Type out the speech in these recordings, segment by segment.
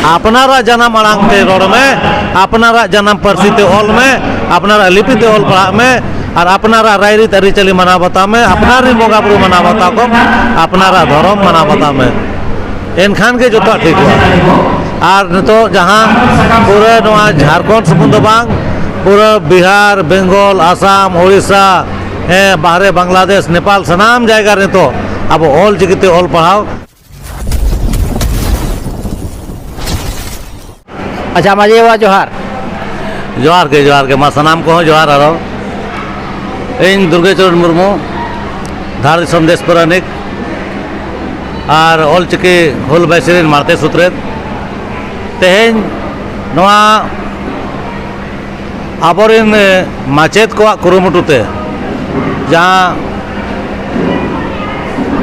ᱟᱯᱱᱟᱨᱟᱜ ᱡᱟᱱᱟᱢ ᱟᱲᱟᱝ ᱛᱮ ᱨᱚᱲ ᱢᱮ ᱟᱯᱱᱟᱨᱟᱜ ᱡᱟᱱᱟᱢ ᱯᱟᱹᱨᱥᱤ ᱛᱮ ᱚᱞ ᱢᱮ ᱟᱯᱱᱟᱨᱟᱜ ᱞᱤᱯᱤ ᱛᱮ ᱚᱞ ᱯᱟᱲᱦᱟᱜ ᱢᱮ ᱟᱨ ᱟᱯᱱᱟᱨᱟᱜ ᱨᱟᱭᱨᱤᱛ ᱟᱹᱨᱤᱪᱟᱹᱞᱤ ᱢᱟᱱᱟᱣ ᱵᱟᱛᱟᱣ ᱢᱮ ᱟᱯᱱᱟᱨ ᱨᱮᱱ ᱵᱚᱸᱜᱟ ᱵᱩᱨᱩ ᱢᱟᱱᱟᱣ ᱵᱟᱛᱟᱣ ᱠᱚᱢ ᱟᱯᱱᱟᱨᱟᱜ ᱫᱷᱚᱨᱚᱢ ᱢᱟᱱᱟᱣ ᱵᱟᱛᱟᱣ ᱢᱮ ᱮᱱᱠᱷᱟᱱ ᱜᱮ ᱡᱚᱛᱚᱣᱟᱜ ᱴᱷᱤᱠᱚᱜᱼᱟ ᱟᱨ ᱱᱤᱛᱚᱜ ᱡᱟᱦᱟᱸ ᱯᱩᱨᱟᱹ ᱱᱚᱣᱟ ᱡᱷᱟᱲᱠᱷᱚᱸᱰ ᱥᱩᱢᱩᱝ ᱫᱚ ᱵᱟᱝ ᱯᱩᱨᱟᱹ ᱵᱤᱦᱟᱨ ᱵᱮᱝᱜᱚᱞ ᱟᱥᱟᱢ ᱳᱲᱤᱥᱟ ᱦᱮᱸ ᱵᱟᱦᱨᱮ ᱵᱟᱝᱞᱟᱫᱮᱥ ᱱᱮᱯᱟᱞ ᱥᱟᱱᱟᱢ ᱡᱟᱭᱜᱟ ᱨᱮ ᱱᱤᱛᱚᱜ ᱟᱵᱚ ᱚᱞ ᱪᱤᱠᱤᱛᱮ ᱚᱞ ᱯᱟᱲᱦᱟᱣ ᱟᱪᱪᱷᱟ ᱢᱟᱹᱡᱷᱤ ᱵᱟᱵᱟ ᱡᱚᱦᱟᱨ ᱡᱚᱦᱟᱨ ᱜᱮ ᱡᱚᱦᱟᱨ ᱜᱮ ᱢᱟ ᱥᱟᱱᱟᱢ ᱠᱚᱦᱚᱸ ᱡᱚᱦᱟᱨ ᱟᱨᱚ ᱤᱧ ᱫᱩᱨᱜᱟᱪᱚᱨᱚᱱ ᱢᱩᱨᱢᱩ ᱫᱷᱟᱲ ᱫᱤᱥᱚᱢ ᱫᱮᱥ ᱯᱟᱨᱟᱱᱤᱠ ᱟᱨ ᱚᱞᱪᱤᱠᱤ ᱦᱩᱞ ᱵᱟᱭᱥᱤ ᱨᱮᱱ ᱢᱟᱲᱛᱮ ᱥᱩᱛᱨᱮᱛ ᱛᱮᱦᱮᱧ ᱱᱚᱣᱟ ᱟᱵᱚᱨᱮᱱ ᱢᱟᱪᱮᱫ ᱠᱚᱣᱟᱜ ᱠᱩᱨᱩᱢᱩᱴᱩ ᱛᱮ ᱡᱟᱦᱟᱸ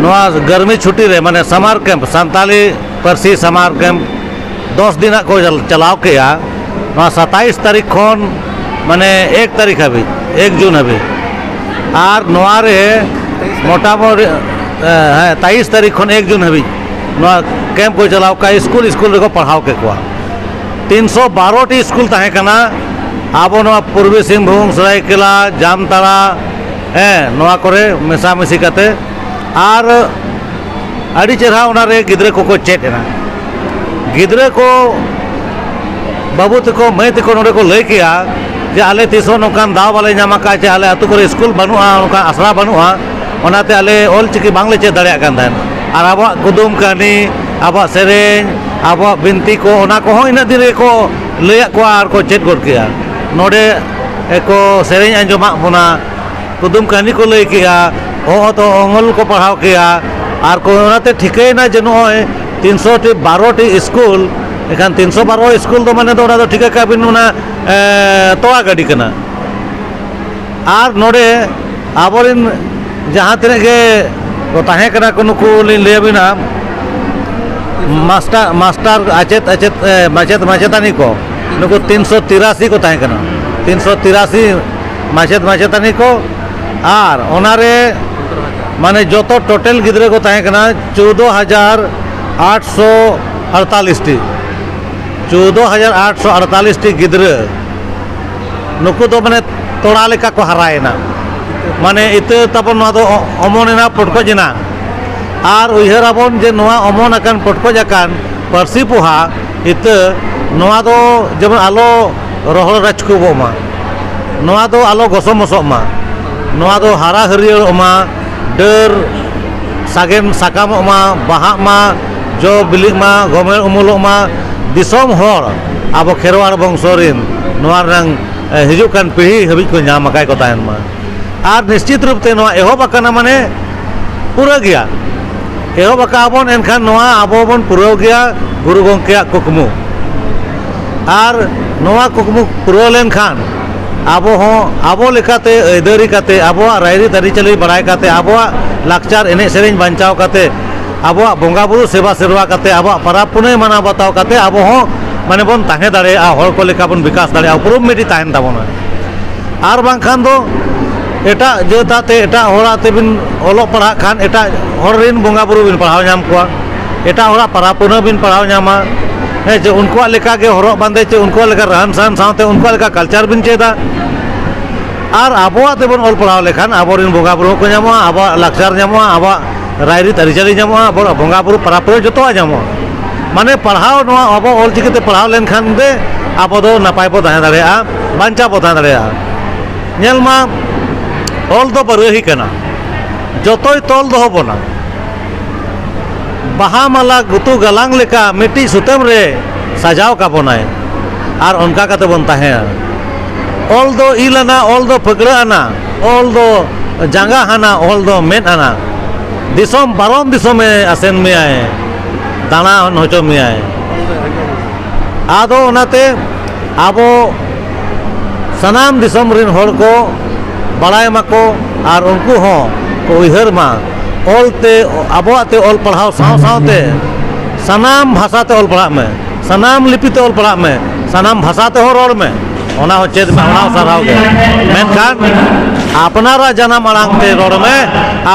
ᱱᱚᱣᱟ ᱜᱟᱨᱢᱤ ᱪᱷᱩᱴᱤ ᱨᱮ ᱢᱟᱱᱮ ᱥᱟᱢᱟᱨ ᱠᱮᱢᱯ ᱥᱟᱱᱛᱟᱲᱤ ᱯᱟᱹᱨᱥᱤ ᱥᱟᱢᱟᱨ ᱠᱮᱢᱯ ᱫᱚᱥ ᱫᱤᱱ ᱨᱮᱱᱟᱜ ᱠᱚ ᱪᱟᱞᱟᱣ ᱠᱮᱜᱼᱟ ᱱᱚᱣᱟ ᱥᱟᱛᱟᱥ ᱛᱟᱹᱨᱤᱠᱷ ᱠᱷᱚᱱ ᱢᱟᱱᱮ ᱮᱠ ᱛᱟᱹᱨᱤᱠᱷ ᱦᱟᱹᱵᱤᱡ ᱮᱠ ᱡᱩᱱ ᱦᱟᱹᱵᱤᱡ ᱟᱨ ᱱᱚᱣᱟ ᱨᱮ ᱢᱚᱴᱟᱢᱩᱴᱤ ᱦᱮᱸ ᱛᱮᱭᱤᱥ ᱛᱟᱹᱨᱤᱠᱷ ᱠᱷᱚᱱ ᱮᱠ ᱡᱩᱱ ᱦᱟᱹᱵᱤᱡ ᱱᱚᱣᱟ ᱠᱮᱢᱯ ᱠᱚ ᱪᱟᱞᱟᱣ ᱠᱮᱜᱼᱟ ᱥᱠᱩᱞ ᱥᱠᱩᱞ ᱨᱮᱠᱚ ᱯᱟᱲᱦᱟᱣ ᱠᱮᱜ ᱠᱚᱣᱟ ᱛᱤᱱᱥᱚ ᱵᱟᱨᱚᱴᱤ ᱥᱠᱩᱞ ᱛᱟᱦᱮᱸ ᱠᱟᱱᱟ ᱟᱵᱚ ᱱᱚᱣᱟ ᱯᱩᱨᱵᱤ ᱥᱤᱝᱵᱷᱩᱢ ᱥᱚᱨᱟᱭᱠᱮᱞᱟ ᱡᱟᱢᱛᱟᱲᱟ ᱦᱮᱸ ᱱᱚᱣᱟ ᱠᱚᱨᱮ ᱢᱮᱥᱟᱢᱤᱥᱤ ᱠᱟᱛᱮ ᱟᱨ ᱟᱹᱰᱤ ᱪᱮᱨᱦᱟ ᱚᱱᱟᱨᱮ ᱜᱤᱫᱽᱨᱟᱹ ᱠᱚᱠᱚ ᱪᱮᱫ ᱮᱱᱟ ᱜᱤᱫᱽᱨᱟᱹ ᱠᱚ ᱵᱟᱹᱵᱩ ᱛᱟᱠᱚ ᱢᱟᱹᱭ ᱛᱟᱠᱚ ᱱᱚᱰᱮ ᱠᱚ ᱞᱟᱹᱭ ᱠᱮᱜᱼᱟ ᱡᱮ ᱟᱞᱮ ᱛᱤᱥ ᱦᱚᱸ ᱱᱚᱝᱠᱟᱱ ᱫᱟᱣ ᱵᱟᱞᱮ ᱧᱟᱢ ᱟᱠᱟᱫᱼᱟ ᱡᱮ ᱟᱞᱮ ᱟᱛᱳ ᱠᱚᱨᱮ ᱥᱠᱩᱞ ᱵᱟᱹᱱᱩᱜᱼᱟ ᱚᱱᱠᱟ ᱟᱥᱲᱟ ᱵᱟᱹᱱᱩᱜᱼᱟ ᱚᱱᱟᱛᱮ ᱟᱞᱮ ᱚᱞ ᱪᱤᱠᱤ ᱵᱟᱝᱞᱮ ᱪᱮᱫ ᱫᱟᱲᱮᱭᱟᱜ ᱠᱟᱱ ᱛᱟᱦᱮᱸᱫ ᱟᱨ ᱟᱵᱚᱣᱟᱜ ᱠᱩᱫᱩᱢ ᱠᱟᱹᱦᱱᱤ ᱟᱵᱚᱣᱟᱜ ᱥᱮᱨᱮᱧ ᱟᱵᱚᱣᱟᱜ ᱵᱤᱱᱛᱤ ᱠᱚ ᱚᱱᱟ ᱠᱚᱦᱚᱸ ᱤᱱᱟᱹᱜ ᱫᱤᱱ ᱨᱮᱜᱮ ᱠᱚ ᱞᱟᱹᱭᱟᱫ ᱠᱚᱣᱟ ᱟᱨ ᱠᱚ ᱪᱮᱫ ᱜᱚᱫ ᱠᱮᱜᱼᱟ ᱱᱚᱰᱮ ᱠᱚ ᱥᱮᱨᱮᱧ ᱟᱸᱡᱚᱢᱟᱜ ᱵᱚᱱᱟ ᱠᱩᱫᱩᱢ ᱠᱟᱹᱦᱱᱤ ᱠᱚ ᱞᱟᱹᱭ ᱠᱮᱜᱼᱟ ᱚᱦᱚᱫ ᱚᱦᱚᱢᱚᱞ ᱠᱚ ᱯᱟᱲᱦᱟᱣ ᱠᱮᱜᱼᱟ ᱟᱨ ᱠᱚ ᱚᱱᱟᱛᱮ ᱴᱷᱤᱠᱟᱹᱭᱮᱱᱟ ᱡᱮ ᱱᱚᱜᱼᱚᱭ ᱛᱤᱱᱥᱚ ᱴᱤ ᱵᱟᱨᱚᱴᱤ ᱥᱠᱩᱞ ᱮᱱᱠᱷᱟᱱ ᱛᱤᱱᱥᱚ ᱵᱟᱨᱚ ᱥᱠᱩᱞ ᱫᱚ ᱢᱟᱱᱮ ᱫᱚ ᱚᱱᱟ ᱫᱚ ᱴᱷᱤᱠᱟᱹ ᱠᱟᱜ ᱵᱤᱱ ᱚᱱᱟ ᱛᱚᱣᱟ ᱜᱟᱹᱰᱤ ᱠᱟᱱᱟ ᱟᱨ ᱱᱚᱰᱮ ᱟᱵᱚᱨᱮᱱ ᱡᱟᱦᱟᱸ ᱛᱤᱱᱟᱹᱜ ᱜᱮ ᱠᱚ ᱛᱟᱦᱮᱸ ᱠᱟᱱᱟ ᱠᱚ ᱱᱩᱠᱩ ᱞᱤᱧ ᱞᱟᱹᱭ ᱟᱹᱵᱤᱱᱟ ᱢᱟᱥᱴᱟᱨ ᱢᱟᱥᱴᱟᱨ ᱟᱪᱮᱫ ᱟᱪᱮᱫ ᱢᱟᱪᱮᱫ ᱢᱟᱪᱮᱛᱟᱹᱱᱤ ᱠᱚ ᱱᱩᱠᱩ ᱛᱤᱱᱥᱚ ᱛᱤᱨᱟᱥᱤ ᱠᱚ ᱛᱟᱦᱮᱸ ᱠᱟᱱᱟ ᱛᱤᱱᱥᱚ ᱛᱤᱨᱟᱥᱤ ᱢᱟᱪᱮᱫ ᱢᱟᱪᱮᱛᱟᱹᱱᱤ ᱠᱚ ᱟᱨ ᱚᱱᱟᱨᱮ ᱢᱟᱱᱮ ᱡᱚᱛᱚ ᱴᱳᱴᱮᱞ ᱜᱤᱫᱽᱨᱟᱹ ᱠᱚ ᱛᱟᱦᱮᱸ ᱠᱟᱱᱟ ᱪᱳᱫᱽᱫᱳ ᱦᱟᱡᱟᱨ ᱟᱴᱥᱚ ᱟᱴᱛᱟᱞᱤᱥᱴᱤ ᱪᱳᱫᱽᱫᱳ ᱦᱟᱡᱟᱨ ᱟᱴᱥᱚ ᱟᱴᱛᱟᱞᱤᱥᱴᱤ ᱜᱤᱫᱽᱨᱟᱹ ᱱᱩᱠᱩ ᱫᱚ ᱢᱟᱱᱮ ᱛᱚᱲᱟ ᱞᱮᱠᱟ ᱠᱚ ᱦᱟᱨᱟᱭᱮᱱᱟ ᱢᱟᱱᱮ ᱤᱛᱟᱹ ᱛᱟᱵᱚᱱ ᱱᱚᱣᱟ ᱫᱚ ᱚᱢᱚᱱ ᱮᱱᱟ ᱯᱚᱴᱠᱚᱡ ᱮᱱᱟ ᱟᱨ ᱩᱭᱦᱟᱹᱨ ᱟᱵᱚᱱ ᱡᱮ ᱱᱚᱣᱟ ᱚᱢᱚᱱ ᱟᱠᱟᱱ ᱯᱚᱴᱠᱚᱡ ᱟᱠᱟᱱ ᱯᱟᱹᱨᱥᱤ ᱯᱚᱦᱟ ᱤᱛᱟᱹ ᱱᱚᱣᱟ ᱫᱚ ᱡᱮᱢᱚᱱ ᱟᱞᱚ ᱨᱚᱦᱚᱲ ᱨᱟᱪᱠᱩᱵᱚᱜ ᱢᱟ ᱱᱚᱣᱟ ᱫᱚ ᱟᱞᱚ ᱜᱚᱥᱚ ᱢᱚᱥᱚᱜ ᱢᱟ ᱱᱚᱣᱟ ᱫᱚ ᱦᱟᱨᱟ ᱦᱟᱹᱨᱭᱟᱹᱲᱚᱜ ᱢᱟ ᱰᱟᱹᱨ ᱥᱟᱜᱮᱱ ᱥᱟᱠᱟᱢᱚᱜ ᱢᱟ ᱵᱟᱦᱟᱜ ᱢᱟ ᱡᱚ ᱵᱤᱞᱤᱜ ᱢᱟ ᱜᱚᱢᱮᱲ ᱩᱢᱩᱞᱚᱜ ᱢᱟ ᱫᱤᱥᱚᱢ ᱦᱚᱲ ᱟᱵᱚ ᱠᱷᱮᱨᱣᱟᱲ ᱵᱚᱝᱥᱚ ᱨᱮᱱ ᱱᱚᱣᱟ ᱨᱮᱱᱟᱝ ᱦᱤᱡᱩᱜ ᱠᱟᱱ ᱯᱤᱲᱦᱤ ᱦᱟᱹᱵᱤᱡ ᱠᱚ ᱧᱟᱢ ᱟᱠᱟᱫ ᱠᱚ ᱛᱟᱦᱮᱱ ᱢᱟ ᱟᱨ ᱱᱤᱥᱪᱤᱛ ᱨᱩᱯ ᱛᱮ ᱱᱚᱣᱟ ᱮᱦᱚᱵ ᱟᱠᱟᱱᱟ ᱢᱟᱱᱮ ᱯᱩᱨᱟᱹ ᱜᱮᱭᱟ ᱮᱦᱚᱵ ᱟᱠᱟᱫ ᱟᱵᱚᱱ ᱮᱱᱠᱷᱟᱱ ᱱᱚᱣᱟ ᱟᱵᱚ ᱵᱚᱱ ᱯᱩᱨᱟᱹᱣ ᱜᱮᱭᱟ ᱜᱩᱨᱩ ᱜᱚᱢᱠᱮᱭᱟᱜ ᱠᱩᱠᱢᱩ ᱟᱨ ᱱᱚᱣᱟ ᱠᱩᱠᱢᱩ ᱯᱩᱨᱟᱹᱣ ᱞᱮᱱᱠᱷᱟᱱ ᱟᱵᱚ ᱦᱚᱸ ᱟᱵᱚ ᱞᱮᱠᱟᱛᱮ ᱟᱹᱭᱫᱟᱹᱨᱤ ᱠᱟᱛᱮᱫ ᱟᱵᱚᱣᱟᱜ ᱨᱟᱭᱨᱤᱛ ᱟᱹᱨᱤᱪᱟᱹᱞᱤ ᱵᱟᱲᱟᱭ ᱠᱟᱛᱮᱫ ᱟᱵᱚᱣᱟᱜ ᱞᱟᱠᱪᱟᱨ ᱮᱱᱮᱡ ᱥᱮᱨᱮᱧ ᱵᱟᱧᱪᱟᱣ ᱠᱟᱛᱮᱫ ᱟᱵᱚᱣᱟᱜ ᱵᱚᱸᱜᱟ ᱵᱩᱨᱩ ᱥᱮᱵᱟ ᱥᱮᱨᱣᱟ ᱠᱟᱛᱮ ᱟᱵᱚᱣᱟᱜ ᱯᱟᱨᱟᱵᱽ ᱯᱩᱱᱟᱹᱭ ᱢᱟᱱᱟᱣ ᱵᱟᱛᱟᱣ ᱠᱟᱛᱮ ᱟᱵᱚ ᱦᱚᱸ ᱢᱟᱱᱮ ᱵᱚᱱ ᱛᱟᱦᱮᱸ ᱫᱟᱲᱮᱭᱟᱜᱼᱟ ᱦᱚᱲ ᱠᱚ ᱞᱮᱠᱟ ᱵᱚᱱ ᱵᱤᱠᱟᱥ ᱫᱟᱲᱮᱭᱟᱜᱼᱟ ᱩᱯᱨᱩᱢ ᱢᱤᱫᱴᱤᱡ ᱛᱟᱦᱮᱱ ᱛᱟᱵᱚᱱᱟ ᱟᱨ ᱵᱟᱝᱠᱷᱟᱱ ᱫᱚ ᱮᱴᱟᱜ ᱡᱟᱹᱛ ᱟᱛᱮ ᱮᱴᱟᱜ ᱦᱚᱲ ᱟᱛᱮ ᱵᱤᱱ ᱚᱞᱚᱜ ᱯᱟᱲᱦᱟᱜ ᱠᱷᱟᱱ ᱮᱴᱟᱜ ᱦᱚᱲ ᱨᱮᱱ ᱵᱚᱸᱜᱟ ᱵᱩᱨᱩ ᱵᱤᱱ ᱯᱟᱲᱦᱟᱣ ᱧᱟᱢ ᱠᱚᱣᱟ ᱮᱴᱟᱜ ᱦᱚᱲᱟᱜ ᱯᱟᱨᱟᱵᱽ ᱯᱩᱱᱟᱹᱭ ᱵᱤᱱ ᱯᱟᱲᱦᱟᱣ ᱧᱟᱢᱟ ᱦᱮᱸ ᱪᱮ ᱩᱱᱠᱩᱣᱟᱜ ᱞᱮᱠᱟ ᱜᱮ ᱦᱚᱨᱚᱜ ᱵᱟᱸᱫᱮ ᱪᱮ ᱩᱱᱠᱩᱣᱟᱜ ᱞᱮᱠᱟ ᱨᱟᱱ ᱥᱟᱱ ᱥᱟᱶᱛᱮ ᱩᱱᱠᱩᱣᱟᱜ ᱞᱮᱠᱟ ᱠᱟᱞᱪᱟᱨ ᱵᱤᱱ ᱪᱮᱫᱟ ᱟᱨ ᱟᱵᱚᱣᱟᱜ ᱛᱮᱵᱚᱱ ᱚᱞ ᱯᱟᱲᱦᱟᱣ ᱞᱮᱠᱷᱟᱱ ᱟᱵᱚᱨᱮᱱ ᱵᱚᱸᱜᱟ ᱵᱩᱨᱩ ᱦᱚᱸᱠᱚ ᱧᱟᱢᱚᱜᱼᱟ ᱟᱵᱚᱣᱟᱜ ᱞᱟᱠᱪᱟᱨ ᱧᱟᱢᱚᱜᱼᱟ ᱟᱵᱚᱣᱟᱜ ᱨᱟᱭᱨᱤᱛ ᱟᱹᱨᱤᱪᱟᱹᱞᱤ ᱧᱟᱢᱚᱜᱼᱟ ᱟᱵᱚ ᱵᱚᱸᱜᱟ ᱵᱩᱨᱩ ᱯᱟᱨᱟᱵᱽ ᱯᱩᱨᱟᱹ ᱡᱚᱛᱚᱣᱟᱜ ᱧᱟᱢᱚᱜᱼᱟ ᱢᱟᱱᱮ ᱯᱟᱲᱦᱟᱣ ᱱᱚᱣᱟ ᱟᱵᱚ ᱚᱞ ᱪᱤᱠᱤ ᱛᱮ ᱯᱟᱲᱦᱟᱣ ᱞᱮᱱᱠᱷᱟᱱ ᱜᱮ ᱟᱵᱚ ᱫᱚ ᱱᱟᱯᱟᱭ ᱵᱚ ᱛᱟᱦᱮᱸ ᱫᱟᱲᱮᱭᱟᱜᱼᱟ ᱵᱟᱧᱪᱟᱣ ᱵᱚ ᱛᱟᱦᱮᱸ ᱫᱟᱲᱮᱭᱟᱜᱼᱟ ᱧᱮᱞ ᱢᱟ ᱚᱞ ᱫᱚ ᱵᱟᱹᱨᱟᱹᱦᱤ ᱠᱟᱱᱟ ᱡᱚᱛᱚᱭ ᱛᱚᱞ ᱫᱚᱦᱚ ᱵᱚᱱᱟ ᱵᱟᱦᱟ ᱢᱟᱞᱟ ᱜᱩᱛᱩ ᱜᱟᱞᱟᱝ ᱞᱮᱠᱟ ᱢᱤᱫᱴᱤᱡ ᱥᱩᱛᱟᱹᱢ ᱨᱮ ᱥᱟᱡᱟᱣ ᱠᱟᱵᱚᱱᱟᱭ ᱟᱨ ᱚᱱᱠᱟ ᱠᱟᱛᱮ ᱵᱚᱱ ᱛᱟᱦᱮᱸᱭᱟ ᱚᱞ ᱫᱚ ᱤᱞ ᱟᱱᱟ ᱚᱞ ᱫᱚ ᱯᱷᱟᱹᱠᱬᱟᱹᱜ ᱟᱱᱟ ᱚᱞ ᱫᱚ ᱡᱟᱸᱜᱟ ᱦᱟᱱᱟ ᱚᱞ ᱫᱚ ᱢᱮᱫ ᱦᱟᱱᱟ ᱫᱤᱥᱚᱢ ᱯᱟᱨᱚᱢ ᱫᱤᱥᱚᱢᱮ ᱟᱥᱮᱱ ᱢᱮᱭᱟᱭ ᱫᱟᱬᱟ ᱦᱚᱪᱚ ᱢᱮᱭᱟᱭ ᱟᱫᱚ ᱚᱱᱟᱛᱮ ᱟᱵᱚ ᱥᱟᱱᱟᱢ ᱫᱤᱥᱚᱢ ᱨᱮᱱ ᱦᱚᱲ ᱠᱚ ᱵᱟᱲᱟᱭ ᱢᱟᱠᱚ ᱟᱨ ᱩᱱᱠᱩ ᱦᱚᱸ ᱠᱚ ᱩᱭᱦᱟᱹᱨ ᱢᱟ ᱚᱞᱛᱮ ᱟᱵᱚᱣᱟᱜ ᱛᱮ ᱚᱞ ᱯᱟᱲᱦᱟᱣ ᱥᱟᱶ ᱥᱟᱶᱛᱮ ᱥᱟᱱᱟᱢ ᱵᱷᱟᱥᱟᱛᱮ ᱚᱞ ᱯᱟᱲᱦᱟᱜ ᱢᱮ ᱥᱟᱱᱟᱢ ᱞᱤᱯᱤᱛᱮ ᱚᱞ ᱯᱟᱲᱦᱟᱜ ᱢᱮ ᱥᱟᱱᱟᱢ ᱵᱷᱟᱥᱟ ᱛᱮᱦᱚᱸ ᱨᱚᱲ ᱢᱮ ᱚᱱᱟ ᱦᱚᱸ ᱪᱮᱫ ᱢᱮ ᱚᱱᱟ ᱦᱚᱸ ᱥᱟᱨᱦᱟᱣ ᱜᱮ ᱢᱮᱱᱠᱷᱟᱱ ᱟᱯᱱᱟᱨᱟᱜ ᱡᱟᱱᱟᱢ ᱟᱲᱟᱝ ᱛᱮ ᱨᱚᱲ ᱢᱮ